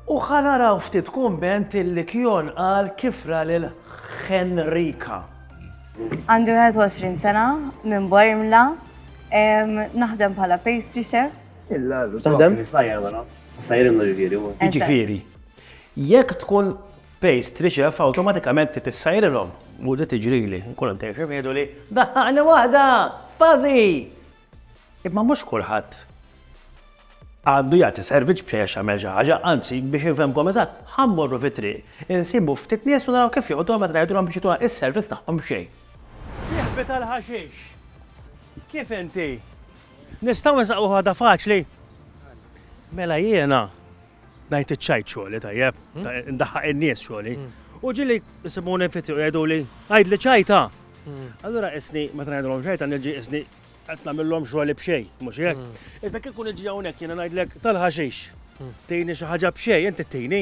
U ħa naraw ftit kumment li Kjon qal kif ra lil Henrika. Għandi 21 sena, minn Bormla, naħdem bħala pastry chef. X'taħdem? Sajjar wara. Sajjar imma ġifieri huwa. Jiġifieri, jekk tkun pastry chef awtomatikament trid issajjarilhom. U di tiġrili, nkun għaddej xi jgħiduli, daħħaqni waħda! Fuzzy! Imma mhux kulħadd għandu jagħti servizz biex għax jagħmel xi ħaġa, anzi biex infhemkom eżatt, ħa mmorru fit-triq, insibu ftit nies u naraw kif joqogħdu meta ngħidulhom biex jagħtuna s-servizz tagħhom b'xejn. Sieħbi tal-ħaxix, kif inti? Nistgħu nsaqqu ħaġa faċli? Mela jiena. Ngħid iċ-ċajt xogħli, tajjeb, ndaħħaq in-nies xogħli. U ġieli jsibuni fiti u jgħiduli, għidli ċajta! Allura qisni meta ngħidulhom ċajta niġi qisni qed nagħmilhom xogħli b'xejn, mhux hekk? Iżda kieku niġi hawnhekk jiena ngħidlek tal-ħaxix, tini xi ħaġa b'xejn, inti tini.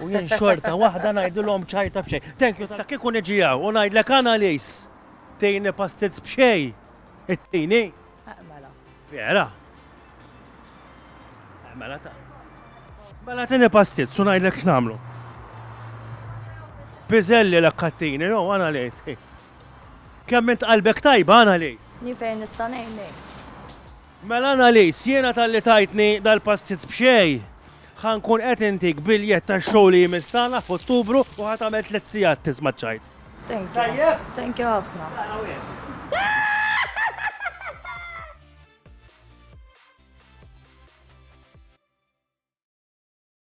U jien xorta waħda ngħidilhom ċajta b'xejn. Thank you. Sa kieku niġi hawn u ngħidlek Annalies, tini pastizz b'xejn, ittini? Mela. Vera? Mela ta. Mela tini pastizz u ngħidlek x'nagħmlu. Piżelli l kattini, no, Annalies. Kemm int qalbek tajba, Annalies? Ni fejn nista' ngħinek. Mela Annalise, jiena talli tajtni dal-pastizz b'xejn, ħa nkun qed intik biljett tax-show li jmiss tagħna f'Ottubru u ħa tagħmel tliet sigħat tisma' ċ-ċajt. Thank you. Tajjeb? Thank you ħafna. Tara wieħed.